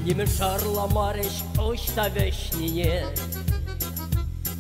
Нимӗн шарламарӗҫ ӑҫта вӗҫнине.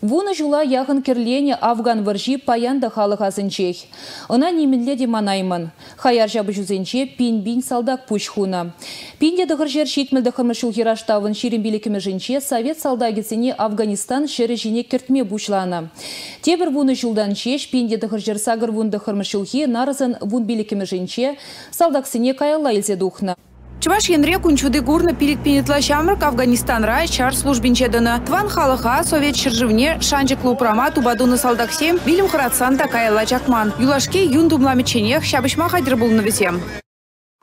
Вунӑ ҫула яхӑн кӗрленӗ Афган вӑрҫи паян та халӑх асӗнчех. Ӑна нимӗнле те манаймӑн. Хаяр ҫапӑҫусенче пин-пин салтак пуҫ хунӑ. Пин те тӑхӑр ҫӗр ҫитмӗл тӑххӑрмӗш ҫулхи раштавӑн ҫирӗм пилӗкмӗшӗнче совет салтакӗсене Афганистан ҫӗрӗ ҫине кӗртме пуҫланӑ. Тепӗр вунӑ ҫултан ҫеҫ пин те тӑхӑр ҫӗр сакӑр вун тӑххӑрмӗш ҫулхи нарӑсӑн вун пилӗкмӗшӗнче салтаксене каялла илсе тухнӑ. Чӑваш Енре кун ҫути курнӑ пилӗк пин ытла ҫамрӑк Афганистанра ҫар службинче тӑнӑ. Тӑван халӑха Совет ҫӗршывне шанчӑклӑ упрама тупа тунӑ салтаксем вилӗм хӑратсан та каялла чакман. Юлашки юн тумламӗчченех ҫапӑҫма хатӗр пулнӑ вӗсем.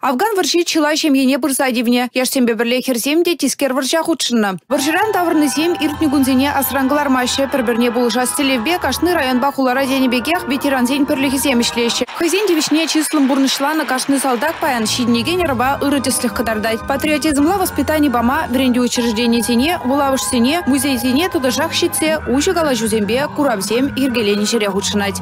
Афган вӑрҫи чылай ҫемьене пырса тивнӗ. Яшсемпе пӗрле хӗрсем те тискер вӑрҫа хутшӑннӑ. Вӑрҫӑран таврӑннисем иртнӗ кунсене асран кӑлармаҫҫӗ. Пӗр-пӗрне пулӑшас тӗллевпе кашни районпа хулара тенӗ пекех ветерансен пӗрлӗхӗсем ӗҫлеҫҫӗ. Хӑйсен тивӗҫне чыслӑн пурнӑҫланӑ кашни салтак паян ҫитӗнекен ӑрӑва ырӑ тӗслӗх кӑтартать. Патриотизмла воспитани пама вӗрентӳ учрежденийӗсене, вулавӑшсене, музейсене тӑтӑшах ҫитсе уҫӑ калаҫусемпе куравсем йӗркеленӗ ҫӗре хутшӑнать.